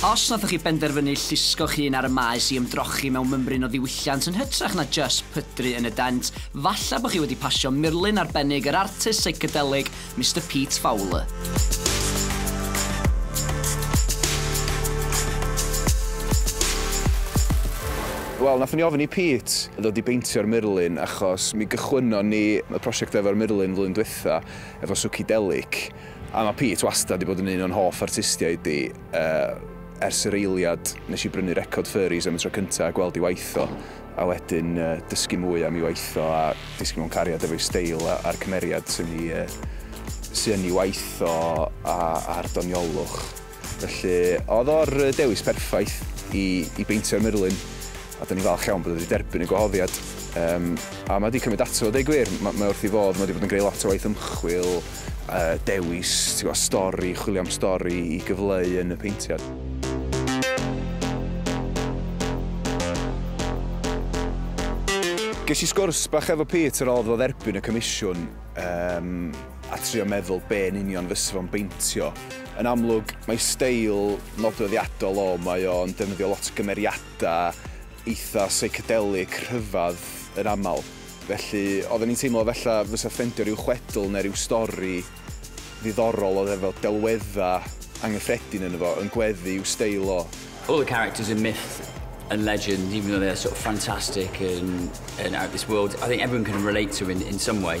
Os nathoch chi benderfynu llusgo'ch hun ar y maes i ymdrochi mewn mymryn o ddiwylliant yn hytrach na jyst pydru yn y dent, falla bo chi wedi pasio murlun arbennig yr artist seicadelig Mister Pete Fowler. Wel, nathon ni ofyn i Pete ddod i beintio'r murlun achos mi gychwynnon ni y prosiect efo'r murlun flwyddyn dwytha efo Suchidelic, a ma' Pete wastad 'di bod yn un o'n hoff artistiaid i, yy, ers yr eiliad nes i brynu record Furries am y tro cynta a gweld 'i waith o, a wedyn, yy, dysgu mwy am 'i waith o a disgyn mewn cariad efo'i steil a a'r cymeriad sy'n 'i, yy, sy yn 'i waith o a a'r doniolwch. Felly, oedd o'r dewis perffaith i i beintio'r murlun, a 'dan ni'n falch iawn bod o 'di derbyn y gwahoddiad. Yym, a ma' 'di cymryd ato fo, deu gwir, ma' mae wrth 'i fodd, ma' 'di bod yn greu lot o waith ymchwil, yy dewis, ti'n gwbod, stori, chwilio am stori i gyfleu yn y peintiad. Ges i sgwrs bach efo Pete ar ôl iddo fo dderbyn y comisiwn, yym, a trio meddwl be' yn union fysa fo'n beintio. Yn amlwg, mae steil nodweddiadol o, mae o'n defnyddio lot o gymeriadau eitha' psychedelic rhyfedd yn aml, felly oedden ni'n teimlo falla fysa ffendio ryw chwedl neu ryw stori ddiddorol oedd efo delweddau anghyffredin ynddo fo yn gweddu i'w steil o. All the characters are myth and legend, even though they're sort of fantastic and and out of this world, I think everyone can relate to in in some way.